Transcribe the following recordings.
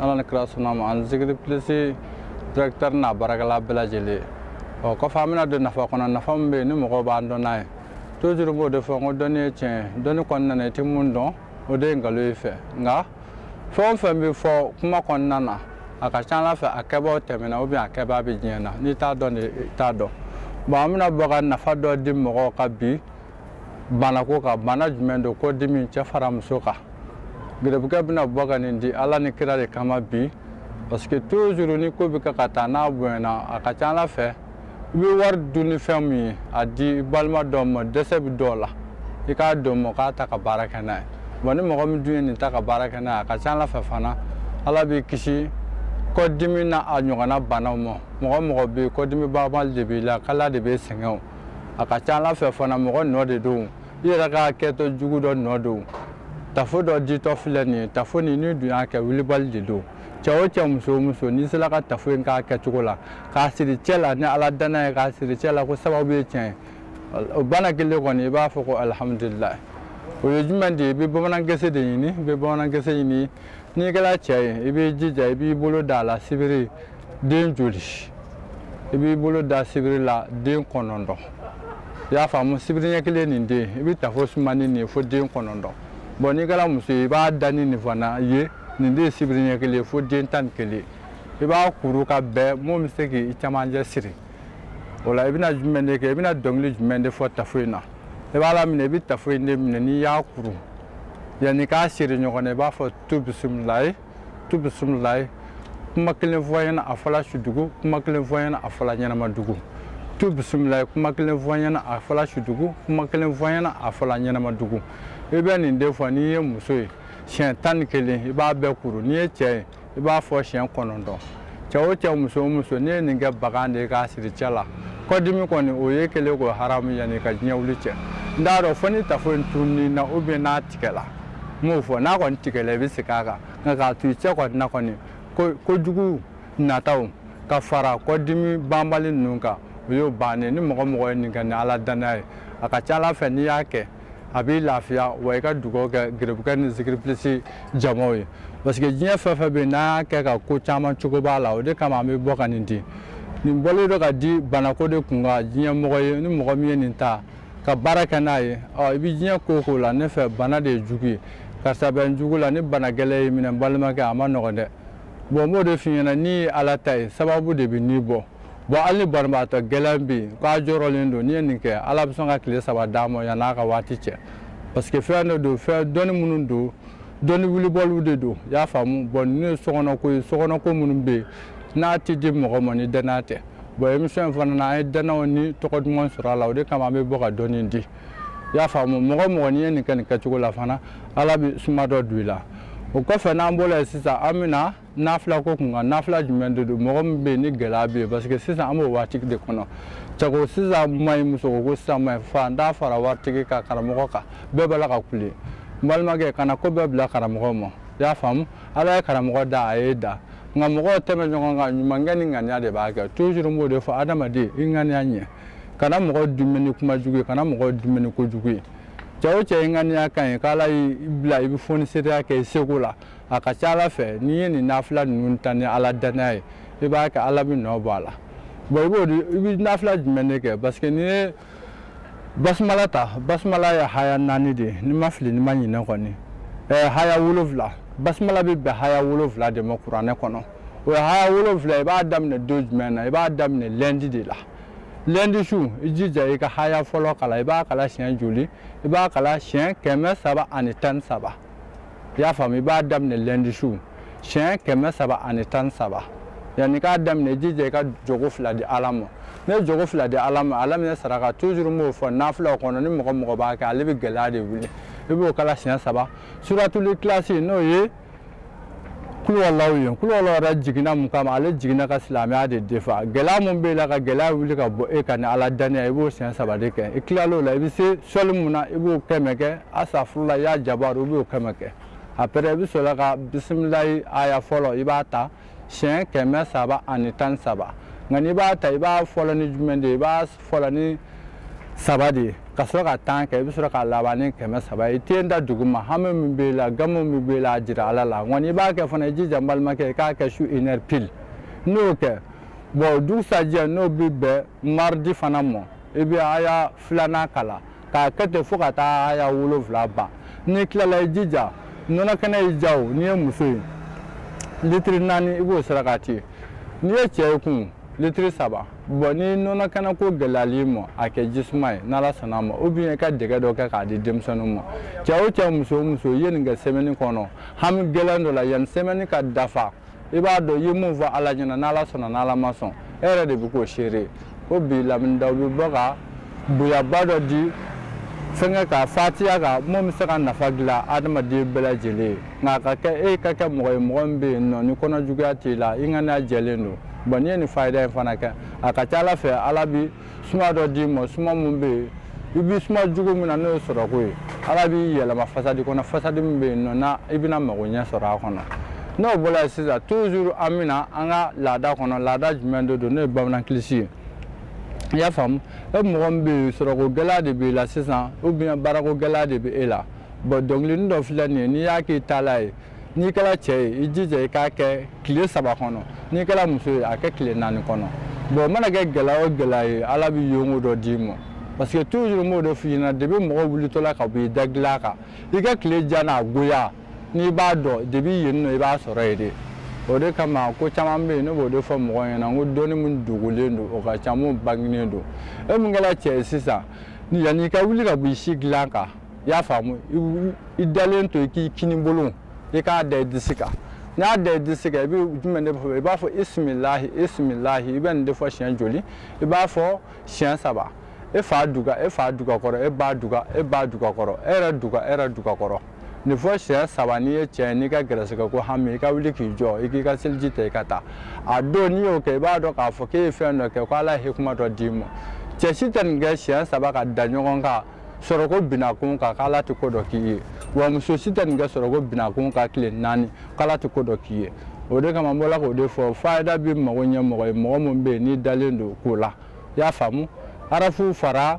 ala ni kira suna ma ani zikiri pilisi directeur n'a baarakɛla bɛɛ lajɛlen ɔ kɔfɛ an bɛna don nafa kɔnɔ nafa min bɛ yen ni mɔgɔw b'an dɔn n'a ye toujours n b'o de fɔ n ko dɔnni ye tiɲɛ ye dɔnni kɔnɔna na i tɛ mun dɔn o de ye nkalon y'i fɛ nka fɛn o fɛn bɛ fɔ kuma kɔnɔna na a ka ca ala fɛ a kɛbaaw tɛmɛna ou bien a kɛbaa bɛ diɲɛ na n'i t'a dɔn de i t'a dɔn bɔn an bɛna bɔ ka nafa dɔ di mɔgɔw ka bi banako kan bana jumɛn don kɔdimi cɛ fara muso kan gɛrɛbukɛ bɛna bɔ ka nin di ala ni kira de kama bi parce que toujours ni ko bɛ kɛ ka taa n'a bonyana a ka ca ala fɛ i bɛ wari dun ni fɛn min ye a d'i balima dɔ ma dɛsɛ bɛ dɔw la i k'a dɔn mɔ k'a ta ka baara kɛ n'a ye wa ni mɔgɔ min dun ye nin ta ka baara kɛ n'a ye a ka ca ala fɛ fana ala b'i kisi kɔdimi n'a a ɲɔgɔnna banaw ma mɔgɔ mɔgɔ bɛ yen kɔdimi banbali de b'i la kala de bɛ sɛgɛn o a ka ca ala fɛ fana mɔgɔ nɔ de don i yɛrɛ ka kɛtɔ jugu dɔ nɔ don tafo dɔ ditɔ filɛ nin ye tafo nin n'i dun y'a kɛ wulibali de don cɛ o cɛ muso o muso n'i sera ka tafo in k'a kɛcogo la k'a siri cɛ la ni ala danna ye k'a siri cɛ la ko sababu ye tiɲɛ ye o bana kelen kɔni i b'a fɔ ko alihamudulilayi o ye jumɛn de ye i bɛ bamanan gese de ɲini i bɛ bamanan gese ɲini n'i kɛra cɛ ye i b'i jija i b'i bolo da a la sibiri den joli i b'i bolo da sibiri la den kɔnɔntɔn i y'a faamu sibiri ɲɛ kelen nin den i bɛ tafo sumani nin ye fo den kɔnɔntɔn bɔn n'i kɛra muso ye i b'a da ni nin fana ye nin de ye sibiri ɲɛ kelen fo den tan ni kelen i b'a kuru ka bɛn mun bɛ se k'i camancɛ siri o la i bɛna jumɛn de kɛ i bɛna dɔnkili jumɛn de fɔ tafo in na i b'a laminɛ i bɛ tafo in de minɛ n'i y'a kuru yanni k'a siri ɲɔgɔn na i b'a fɔ tu bisimilayi tu bisimilayi kuma kelen fɔ an ɲɛna a fɔla sudugu kuma kelen fɔ an ɲɛna a fɔla ɲɛnamadugu tu bisimilayi kuma kelen fɔ an ɲɛna a fɔla sudugu kuma kelen fɔ an ɲɛna a fɔla ɲɛnamadugu i bɛ nin de fɔ n'i ye muso ye siɲɛ tan ni kelen i b'a bɛɛ kuru n'i ye cɛ ye i b'a fɔ siɲɛ kɔnɔntɔn cɛ o cɛ muso o muso n'i ye nin kɛbaga de ye k'a siri cɛ la kɔdimi kɔni o ye kelen k'o haramu yanni ka diɲɛ wuli cɛ n t'a dɔn fo ni tafo in tununna ou bien n'a tigɛla n m'o fɔ n'a kɔni tigɛla i bɛ segin a kan nka k'a to i cɛ kɔni na kɔni kojugu nataw ka fara kɔdimi banbali ninnu kan o y'o bannen ni mɔgɔ mɔgɔ ye nin kɛ ni ala danaya ye a ka ca ala fɛ n'i y'a kɛ a b'i lafiya wa i ka dugawu kɛ gerebukɛ ni zikiri pilisi jamaw ye parce que diɲɛ fɛn o fɛn bɛ yen n'an y'a kɛ ka ko caman cogo b'a la o de kama an bɛ bɔ ka nin di nin bɔlen don ka di banako de kun kan diɲɛ mɔgɔ ye ni mɔgɔ min ye nin ta ka baara kɛ n'a ye ɔ i bɛ diɲɛ ko o ko la ne fɛ bana de ye jugu ye karisa bɛ n jugu la ni bana gɛlɛn y'i minɛ n balimakɛ a ma nɔgɔn dɛ bɔn n b'o de f'i ɲɛna n'i ye ala ta ye sababu de bɛn'i bɔ bon hali ni banabagatɔ gɛlɛn bɛ yen k'a jɔrɔlen don n'i ye nin kɛ ala bɛ sɔn ka tile saba d'a ma yan'a ka waati cɛ parce que fɛn dɔ don fɛn dɔnni minnu don dɔnni wulibaliw de don i y'a faamu bon ninnu ye sokɔnɔko ye sokɔnɔko minnu bɛ yen n'a tɛ di mɔgɔ ma ni danaya tɛ bon émission in fana na an ye danaya ni tɔgɔ duman sɔrɔ a la o de kama an bɛ bɔ ka dɔnni di i y'a faamu mɔgɔ o mɔgɔ n'i ye nin kɛ nin kɛcogo la fana ala bɛ suma dɔ don i la o kɔfɛ n'an bɔra yen sisan an bɛ na nafila ko kun kan nafila jumɛn de don mɔgɔ min bɛ yen ni gɛlɛya bɛ yen parce que sisan an b'o waati de kɔnɔ cɛko sisan man ɲi musoko sisan man ɲi faantan fara waritigi kan karamɔgɔ kan bɛɛ b'a la ka kule n balimakɛ kana ko bɛɛ bila karamɔgɔ ma i y'a faamu ala ye karamɔgɔ da a y'i da nka mɔgɔw tɛmɛ ɲɔgɔn kan ɲumankɛ ni ŋaniya de b'a kɛ toujours n b'o de fɔ adamaden i ŋaniya ɲɛ kana mɔgɔ dimi ni kuma jugu ye kana mɔgɔ dimi ni ko jugu ye cɛ o cɛ i ŋaniya ka ɲi k'ala y'i bila i bɛ foni seereya kɛ i seko la a ka ca ala fɛ n'i ye nin nafila ninnu ta ni ala danaya ye i b'a kɛ ala bɛ nɔ bɔ a la bon i b'o i bɛ nafila jumɛn de kɛ parce que n'i ye basumala ta basumala ye haya naani de ye n'i ma fili n'i ma ɲinɛ kɔni ɛɛ haya wolonfila basumala bɛ bɛn haya wolonfila de ma kuranɛ kɔnɔ o ye haya wolonfila i b'a daminɛ don jumɛn na i b'a daminɛ lundi de la lundi su i jija i ka haya fɔlɔ kalan i b'a kalan siɲɛ joli i b'a kalan siɲɛ kɛmɛ saba ani tan ni saba i y'a faamu i b'a daminɛ lundi su siɲɛ kɛmɛ saba ani tan saba yanni k'a daminɛ i jija i ka jɔko fila di ala ma ne ye jɔko fila di ala ma ala minɛ saraka toujours n b'o fɔ nafilaw kɔnɔ ni mɔgɔ o mɔgɔ b'a kɛ ale bɛ gɛlɛya de wuli i b'o kalan siɲɛ saba suratul ikilasi n'o ye kulowalaw ye kulowalaw yɛrɛ jiginna mun kama ale jiginna ka silamɛya de defa gɛlɛya mun b'e la ka gɛlɛya wuli ka bɔ e kan ni ala danaya i b'o siɲɛ saba de kɛ i tilal'o la i bɛ se sɔli mun na i b'o kɛmɛ kɛ asafurula ya jabaru i b'o kɛmɛ kɛ après i bɛ sɔrɔ ka bisimilayi aya fɔlɔ i b'a ta siɲɛ kɛmɛ saba ani tan ni saba nka n'i b'a ta i b'a fɔlɔ ni jumɛn de ye i b'a fɔlɔ ni saba de ye ka sɔrɔ ka tan kɛ i bɛ sɔrɔ ka laban ni kɛmɛ saba ye i ten da duguma hami min b'i la gamu min b'i la a jira ala la nka n'i b'a kɛ fana i jija n balimakɛ i k'a kɛ su une heure pile n'o kɛ bon dugusajɛ n'o bɛ bɛn mardi fana ma i bɛ aya filanan kalan k'a kɛ ten fo ka taa haya wolonfila ban n'i tilala i jija nɔnɔ kɛnɛ y'i ja o n'i ye muso ye litiri naani i b'o sarakati n'i ye cɛ ye kun litiri saba bon ni nɔnɔ kɛnɛ ko gɛlɛyal'i ma a kɛ jisuma ye n'ala sɔnna ma ou bien i ka dɛgɛ dɔ kɛ k'a di denmisɛnninw ma cɛ o cɛ muso o muso i ye nin kɛ semaine kɔnɔ hami gɛlɛn dɔ la yanni semaine ka dafa i b'a dɔn i ye mun fɔ ala ɲɛna n'ala sɔnna n'ala ma sɔn e yɛrɛ de bɛ k'o seere ko bi lamini daw bɛ bɔ ka bonyaba dɔ di fɛnkɛ ka fatiya kan min bɛ se ka nafa dilan adamaden bɛɛ lajɛlen ye nka a ka kɛ e ka kɛ mɔgɔ ye mɔgɔ min bɛ yen nɔ ni kɔnɔjuguya t'i la i ŋaniya jɛlen don bon n'i ye nin fayida in fana kɛ a ka ca ala fɛ ala bɛ suma dɔ d'i ma suma min bɛ yen i bɛ suma jugu min na n'o ye sɔrɔko ye ala b'i yɛlɛma fasadi kɔnɔ fasadi min bɛ yen nɔ na i bɛna mago ɲɛ sɔrɔ a kɔnɔ n'o bɔra yen sisan toujours an bɛ na an ka laada kɔnɔ laada jumɛn de don n'o ye bamanankilisi ye i y'a faamu e mɔgɔ min bɛ yen sɔrɔko gɛlɛya de b'i la sisan ou bien baarako gɛlɛya de bɛ e la bon dɔnkilini dɔ filɛ nin ye n'i y'a k'i taala ye n'i kɛra cɛ ye i jija i k'a kɛ tile saba kɔnɔ n'i kɛra muso ye a kɛ tile naani kɔnɔ bon mana kɛ gɛlɛya o gɛlɛya ye ala bɛ yonko dɔ d'i ma parce que toujours n b'o de f'i ɲɛna depuis mɔgɔ wulitɔla ka bɔ i da dilan kan i ka tile diya n'a goya n'i b'a dɔn depuis yen nɔ i b'a sɔrɔ yen de o de kama ko caman bɛ yen ne b'o de fɔ mɔgɔw ɲɛna n ko dɔnni min dogolen don o ka ca min bangenen don e min kɛra cɛ ye sisan yanni i ka wuli ka bɔ i si dilan kan i y'a faamu i dalen to i k'i kinibolo i k'a da i disi kan n'i y'a da i disi kan i bɛ jumɛn de fɔ i b'a fɔ bisimilahi bisimilahi i bɛ nin de fɔ siɲɛ joli i b'a fɔ siɲɛ saba e fa duga e fa duga kɔrɔ e ba duga e ba duga kɔrɔ e yɛrɛ duga e yɛrɛ duga kɔrɔ nin fɔ siɲɛ saba n'i ye cɛ ye n'i ka gɛrɛsɛgɛ ko hami i ka wuli k'i jɔ i k'i ka seliji ta i ka taa a don n'i y'o kɛ i b'a dɔn k'a fɔ k'e ye fɛn dɔ kɛ ko ala ye hikima dɔ d'i ma cɛ si tɛ nin kɛ siɲɛ saba ka da ɲɔgɔn kan sɔrɔko binakun kan k'ala tɛ ko dɔ k'i ye wa muso si tɛ nin kɛ sɔrɔko binakun kan tile naani k'ala tɛ ko dɔ k'i ye o de kama n bɔla k'o de fɔ fayida bɛ mago ɲɛ mɔgɔ ye mɔgɔ min bɛ yen n'i dalen don ko la i y'a faamu arafu fara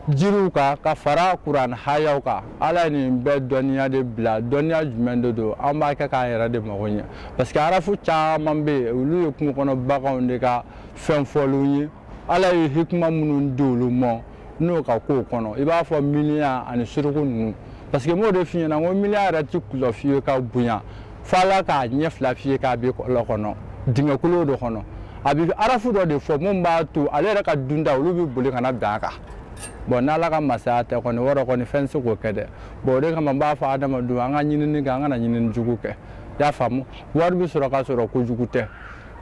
jiriw kan ka fara kuranɛ hayaw kan ala ye nin bɛɛ dɔnniya de bila dɔnniya jumɛn de don an b'a kɛ k'an yɛrɛ de mago ɲɛ parce que arafu caman bɛ yen olu ye kungo kɔnɔ baganw de ka fɛn fɔlenw ye ala ye hikima minnu di olu ma n'u ka kow kɔnɔ i b'a fɔ miniɲan ani suruku ninnu parce que n b'o de f'i ɲɛna n ko miniɲan yɛrɛ ti kulɔ f'i ye ka bonya fo ala k'a ɲɛ fila fiyen k'a bɛ kɔlɔn kɔnɔ dingɛ kolon dɔ kɔnɔ a bɛ arafu dɔ de fɔ min b'a to ale yɛrɛ ka dunta olu bɛ boli ka na bin a kan bon n'ala ka masaya tɛ kɔni wɔrɔ kɔni fɛn se k'o kɛ dɛ bon o de kama n b'a fɔ adamadenw an ka ɲinini kɛ an kana ɲinini jugu kɛ i y'a faamu wari bɛ sɔrɔ ka sɔrɔ kojugu tɛ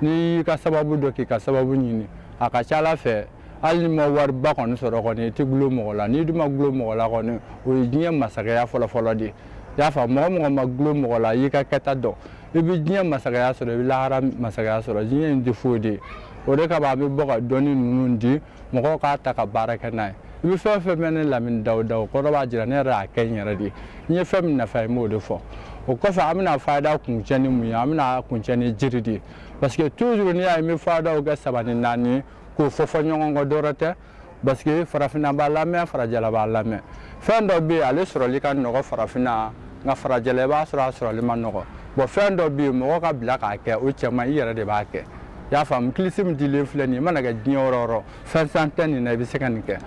n'i y'i ka sababu dɔn k'i ka sababu ɲini a ka ca ala fɛ hali ni ma wariba kɔni sɔrɔ kɔni i tɛ gulo mɔgɔ la n'i dun ma gulo mɔgɔ la kɔni o ye diɲɛ masakɛya fɔlɔfɔlɔ de ye i y'a faamu mɔgɔ o mɔgɔ ma gulo mɔgɔ la i y'i ka kɛta dɔn i bɛ diɲɛ masakɛya sɔrɔ i bɛ lahara masakɛya sɔrɔ diɲɛ in tɛ foyi de ye o de kama a bɛ bɔ ka dɔnni ninnu di mɔgɔw k'a ta ka baara kɛ n'a ye i bɛ fɛn o fɛn mɛn ne lamini dawuda o kɔrɔ b'a jira ne yɛrɛ y'a kɛ n yɛrɛ de ye n ye fɛn min nafa ye n b'o de fɔ o kɔfɛ an bɛna fayida kuncɛ ni mun ye an bɛna kuncɛ ni jiri de ye parce que toujours n'i y'a ye n bɛ fayidaw kɛ saba ni naani k'o fɔ fɔ ɲɔgɔn kɔ dɔrɔn tɛ parce que farafinna b'a lamɛn farajɛla b'a lamɛn fɛn dɔ bɛ yen ale sɔrɔli ka nɔgɔ farafinna nka farajɛla i b'a sɔrɔ a sɔrɔli ma nɔgɔ bon fɛn dɔ bɛ yen mɔgɔ ka bila k'a kɛ o cɛ man ɲi i yɛrɛ de b'a kɛ i y'a faamu kilisi min dilen filɛ nin ye i mana kɛ diɲɛ yɔrɔ o yɔrɔ fɛn san tɛ nin na i bɛ se ka nin kɛ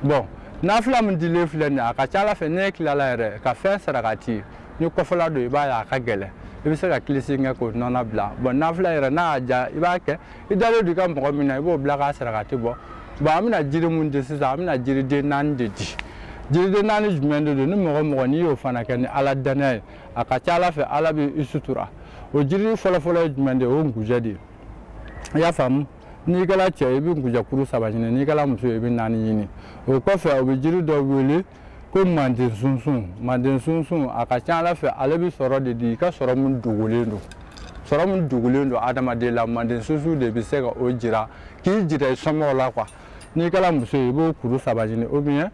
bon nafila min dilen filɛ nin ye a ka ca ala fɛ ne tilala yɛrɛ ka fɛn sarakati ni kɔfɛla don i b'a ye a ka gɛlɛn i bɛ se ka kilisi kɛ k'o nɔna bila bon nafila yɛrɛ n'a y'a diya i b'a kɛ i dalen don i ka mɔgɔ min na i b'o bila k'a sarakati bɔ bon an bɛna jiri mun di sisan an bɛna jiriden naani de di jiriden naani jumɛn de don ni mɔgɔ o mɔgɔ n'i y'o fana kɛ ni ala dannaya ye a ka ca ala fɛ ala bɛ i sutura o jiri fɔlɔfɔlɔ ye jumɛn de ye o ye nkujɛ de ye i y'a faamu n'i kɛra cɛ i bɛ nkujɛkuru saba ɲini n'i kɛra muso ye i bɛ naani ɲini o kɔfɛ u bɛ jiri dɔ wele ko manden sunsun manden sunsun a ka ca ala fɛ ale bɛ sɔrɔ de di i ka sɔrɔ min dogolen don sɔrɔ min dogolen don adamaden la manden sunsun de bɛ se ka o jira k'i jira i somɔgɔw la quoi n'i kɛra muso ye i b'o kuru saba ɲini ou bien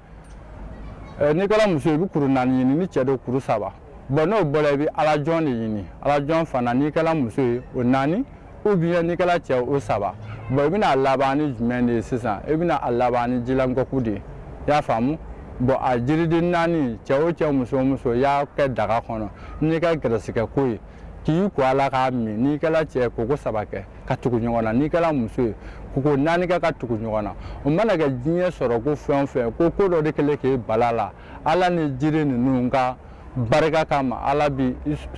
n'i kɛra muso ye i bɛ kuru naani ɲini ni cɛ don kuru saba bon n'o bɔra i bɛ alajɔn de ɲini alajɔn fana n'i kɛra muso ye o naani ou bien n'i kɛra cɛ o saba bon i bɛna a laban ni jumɛn de ye sisan i bɛna a laban ni jilankɔku de ye i y'a faamu bon a jiriden naani cɛ o cɛ muso o muso i y'a kɛ daga kɔnɔ n'i ka gɛrɛsɛgɛ ko ye k'i ko a la k'a min n'i kɛra cɛ koko saba kɛ ka tugu ɲɔgɔn na n'i kɛra muso ye koko naani kɛ ka tugu ɲɔgɔn na o mana kɛ diɲɛ sɔrɔ ko fɛn o fɛn ko ko dɔ de kɛlen k'e bala la ala ni jiri ninnu ka barika kama ala b'i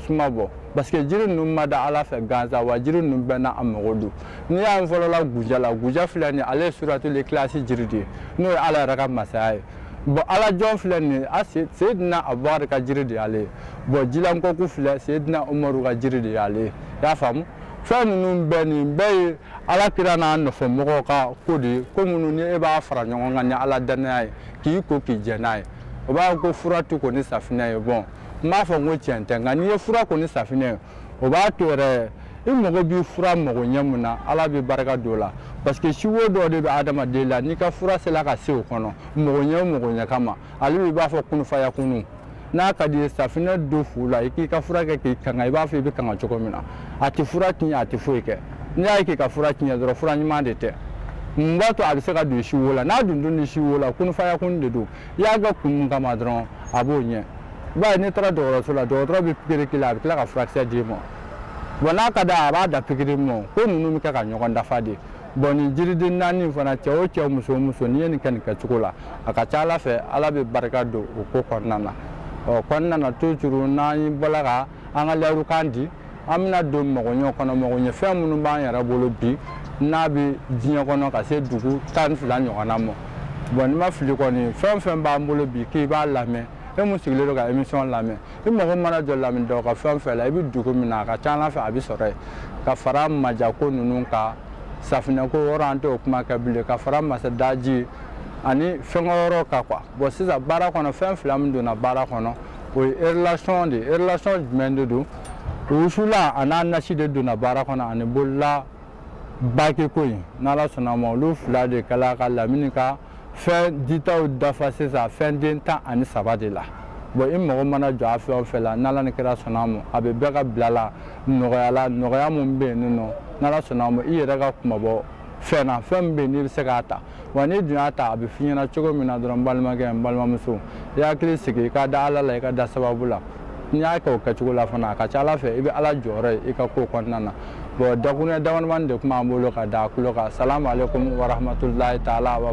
suma bɔ parce que jiri ninnu ma da ala fɛ gansan wa jiri ninnu bɛɛ n'a mago don n'i y'a ye fɔlɔ la nkujɛ la nkujɛ filɛ nin ale ye suratuli ikilasi jiri de ye n'o ye ala yɛrɛ ka masaya ye bon alajɔn filɛ nin ye a seyidina abubakari ka jiri de y'ale ye bon jilankɔku filɛ seyidina umaru ka jiri de y'ale ye i y'a faamu fɛn ninnu bɛɛ nin bɛɛ ye ala kira n'a nɔfɛmɔgɔw ka ko de ye ko minnu ni e b'a fara ɲɔgɔn kan ni ala dannaya ye k'i ko k'i jɛ n'a ye o b'a ko fura tɛ ko ni safinɛ ye bon n b'a fɔ n ko tiɲɛ tɛ nka n'i ye fura ko ni safinɛ ye o b'a to yɛrɛ i mago b'i fura mago ɲɛ mun na ala bɛ barika don o la parce que si wo dɔ de bɛ adamaden la n'i ka fura sera ka se o kɔnɔ mago ɲɛ o mago ɲɛ kama ale b'i b'a fɔ kunufaya kunun n'a ka di ye safinɛ don fu la i k'i ka fura kɛ k'i kanga i b'a fɔ i bɛ kanga cogo min na a tɛ fura tiɲɛ a tɛ foyi kɛ n'i y'a ye k'i ka fura tiɲɛ dɔrɔn fura ɲuman de tɛ mun b'a to a bɛ se ka don si wo la n'a dun dun ni si wo la kunfaya kun de don i y'a kɛ kun mun kama dɔrɔn a b'o ɲɛ i b'a ye n'i taara dɔgɔtɔrɔso la dɔgɔtɔrɔ bɛ pikiri k'i la a bɛ tila ka furakisɛ d'i ma wa n'a ka d'a ye a b'a da pikiri ma ko ninnu bɛ kɛ ka ɲɔgɔn dafa de bɔn nin jiriden naani fana cɛ o cɛ muso o muso n'i ye nin kɛ nin kɛcogo la a ka ca ala fɛ ala bɛ barika don o ko kɔnɔna na ɔ kɔnɔna na toujours n'an bɔla ka an ka layirukan di an bɛna don magoɲɛ kɔnɔ magoɲɛ fɛn minnu b'an yɛrɛ bolo bi n'a bɛ diɲɛ kɔnɔ ka se dugu tan ni fila ɲɔgɔnna ma bɔn ni n ma fili kɔni fɛn o fɛn b'an bolo bi k'i b'a lamɛn e mun sigilen don ka émission lamɛn i mago mana jɔ lamini dɔw ka fɛn o fɛn la i bɛ dugu min na a ka ca ala fɛ a bɛ sɔrɔ yen ka fara majako ninnu kan safinɛko yɔrɔ an t'o kuma kɛ bilen ka fara masadaji ani fɛnkɛ yɔrɔ kan quoi bɔn sisan baara kɔnɔ fɛn fila min donna baara kɔnɔ o ye relation de ye relation jumɛn de don wusula a n'a nasi de donna baara kɔnɔ ani bolila bakiko in n'ala sɔnna ma olu fila de kɛla ka lamini ka fɛn ditaw dafa sisan fɛn den tan ani saba de la bɔn i mago mana jɔ a fɛn o fɛn la n'ala ni kira sɔnna a ma a bɛ bɛɛ ka bila la nɔgɔya la nɔgɔya min bɛ yen nɔ n'ala sɔnna a ma i yɛrɛ ka kunmabɔ fɛn na fɛn min bɛ yen n'i bɛ se k'a ta wa n'i dun y'a ta a bɛ f'i ɲɛna cogo min na dɔrɔn n balimakɛ n balimamuso i hakili sigi i ka da ala la i ka da sababu la n'i y'a kɛ o kɛcogo la fana a ka ca ala fɛ i bɛ ala jɔyɔrɔ ye i ka ko kɔnɔna na bɔn dakuruɲɛ damadamani de tun b'an bolo ka da a tulo kan salamu aleykum warahmatulahi taala wa